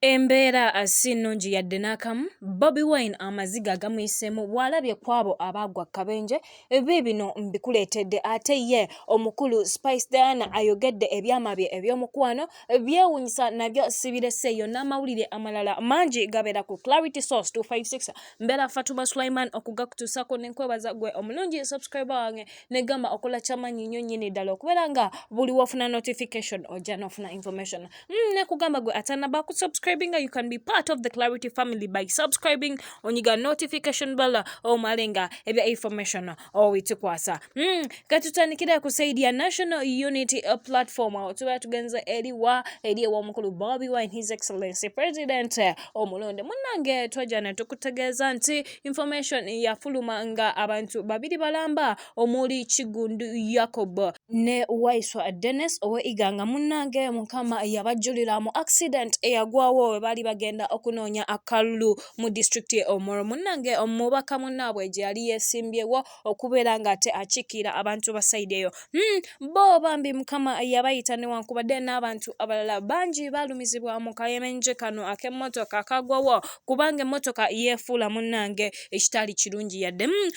Embeera si nnungi yadde n'akamu, Bobi Wine amaziga agamuyiseemu bw'alabye kw'abo abaagwa akabenje, biibino mbikuleetedde ate ye omukulu Spice Diana ayogedde ebyama bye eby'omukwano, byewuunyisa nabyo sibireseeyo n'amawulire amalala mangi gabeera ku Clarity Source 256. Mbeera Fatuma Sulaiman okugakutuusaako ne nkwebaza gwe omulungi subscriber wange ne gamba okola kyamaanyi nnyo nnyini ddala okubeera nga buli w'ofuna notification ojja n'ofuna information. mm, nekugamba gwe atanaba ku subscribinga you can be part of the clarity family by subscribing onyiga notification bala omale nga ebya information owitukwasa mm, katutandikira ku saidi ya national unity platform awo tuba tugenza eriwa eri ewomukulu bobi wine his excellency president omulonde munange twajja netukutegeeza nti information yafuluma nga abantu babiri balamba omuli kigundu yakob ne waiswa dennis owe iganga munnange mukama yabajjulira mu accident eyagwawo we baali bagenda okunoonya akalulu mu disitulikiti ye omoro munnange omubaka munnaabwe gye yali yeesimbyewo okubeera ng'ate akiikirira abantu ba sayidi eyo hmm, bo bambi mukama yabayita newankubadde n'abantu abalala bangi baalumizibwa mu kayemenje kano ak'emmotoka kagwawo kubanga emmotoka yeefuula munnange ekitaali kirungi yadde hmm,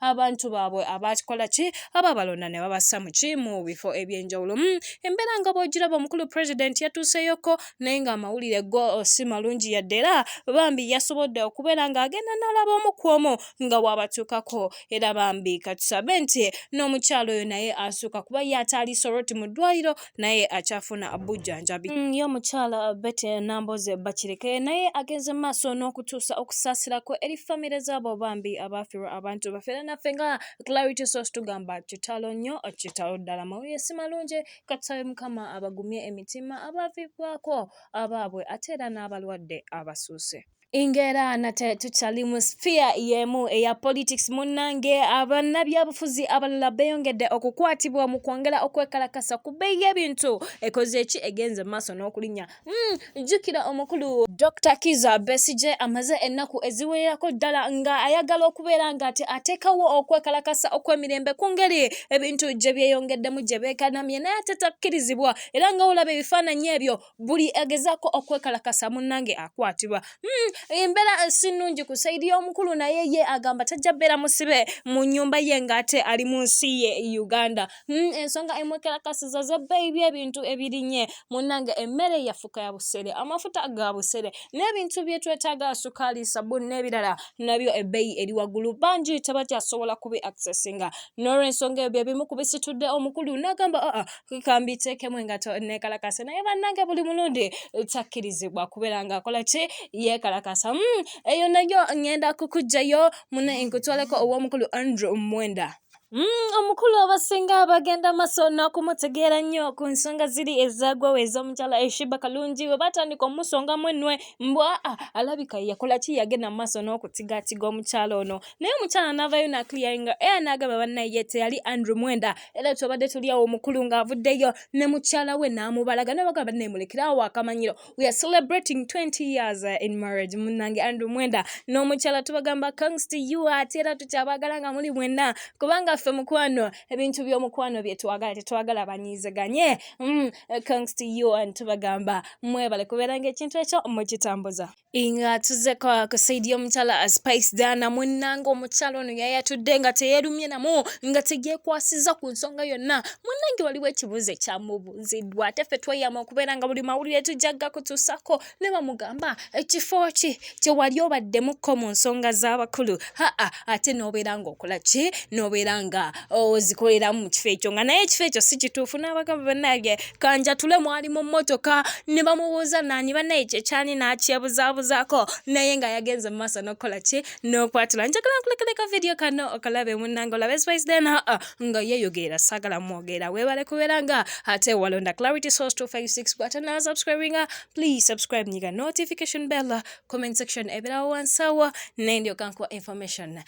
abantu baabwe abaakikola ki ababalonda ne babassa mu ki mu bifo eby'enjawulo hmm, embeera nga bw'ogiraba omukulu pulezidenti yatuuseeyoko naye ng'amawulire go oh, si malungi yadde era bambi yasobodde okubeera ng'agenda n'alaba omu ku omu nga waabatuukako era bambi katusabe nti n'omukyalo oyo naye asuuka kuba ye ataali soroti mu ddwaliro naye akyafuna bujjanjabi mm, ye omukyala bete namboze bakireke naye agenze mu maaso n'okutuusa okusaasirako eri famire zaabo bambi abaafirwa abantu baffe era naffe nga clarity source tugamba kitalo nnyo kitalo ddala mawulire si malungi katusabe mukama abagumye emitima abaavibwako abaabwe ate era n'abalwadde abasuuse Ingera nate tukyali mu sphere y'emu eya politics munnange abannabyabufuzi abalala beeyongedde okukwatibwa mu kwongera okwekalakasa ku bbeeyi y'ebintu ekoze eki egenze mu maaso n'okulinnya hmm, jjukira mm, omukulu dr kiza besigye amaze ennaku eziwererako ddala nga ayagala okubeera nga ati ateekawo okwekalakasa okw'emirembe ku ngeri ebintu gye byeyongeddemu gye beekanamye naye ate takkirizibwa era nga olaba ebifaananyi ebyo buli agezaako okwekalakasa munnange akwatibwa hmm, embeera eh, si nnungi ku saidi y'omukulu naye ye agamba tajja bbeera musibe mu nnyumba ye ng'ate ali mu nsi ye uganda hmm, ensonga emwekalakasiza z'ebbeeyi by'ebintu ebirinye munnange emmere yafuka ya busere amafuta ga busere n'ebintu bye twetaaga sukaali sabuni n'ebirala nabyo ebbeeyi eri waggulu bangi tebakyasobola kubi accessinga n'olwensonga ebyo ebimu ku bisitudde omukulu n'agamba aa ah, ah, kambi teekemu engato neekalakase naye bannange buli mulundi takkirizibwa kubeera ng'akola ki yeekalakasa hmm, eyo nayo ngenda kukugjayo mune nkutwaleko ow'omukulu andrew mwenda Mm, omukulu abasinga bagenda maso n'okumutegeera nnyo ku nsonga ziri ezaagwawo ez'omukyala eshiba kalungi we batandika omusongamu ennwe mbwa ah, alabika yakola ki yagenda mu maaso n'okutigaatiga omukyala ono naye omukyala navayo na clearinga era nagamba bannaye ye teyali andrew mwenda era tubadde tuli awo omukulu ng'avuddeyo ne mukyala we n'amubalaga nabagamba naye mulekerawo akamanyiro we are celebrating 20 years uh, in marriage munnange andrew mwenda n'omukyala tubagamba congs to you ate era tukyabagala nga muli mwenna kubanga ffe mukwano ebintu by'omukwano bye twagala tetwagala banyiizeganye mm, congs to you and tubagamba mwebale kubeera ng'ekintu ekyo mukitambuza nga tuzze kwa kusaidia omukyala a spice dana munnange omukyala ono yayatudde nga teyeerumye namu nga teyeekwasizza ku nsonga yonna munnange waliwo ekibuuzo ekyamubuuziddwa ate ffe tweyama okubeera nga buli mawulire tujja gakutuusako ne bamugamba ekifo ki kye wali obaddemukko mu nsonga z'abakulu haa ate n'obeera ng'okola ki n'obeera nga ozikoleramu oh, mu kifo ekyo nga naye ekifo ekyo si kituufu n'abagamba bannange kanjatule mwali mu mmotoka ne bamubuuza naani bannaye kyekyali n'akyebuzaabuzaako naye nga yagenze mu maaso n'okukola ki n'okwatula njagala nkulekereka vidiyo kano okalabe munnange olabe spice then aa ah, ah, nga yeyogeera saagala mwogera weebale kubeera nga ate walonda clarity source 256 bw'ate naasubscribinga please subscribe nyiga notification bell comment section ebirawo wansawo naye ndyoka nkuwa information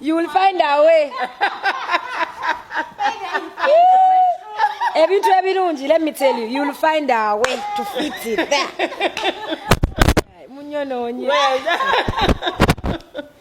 You will find a way. ebintu ebirungi let me tell you you will find a way to fit it there munyonoonye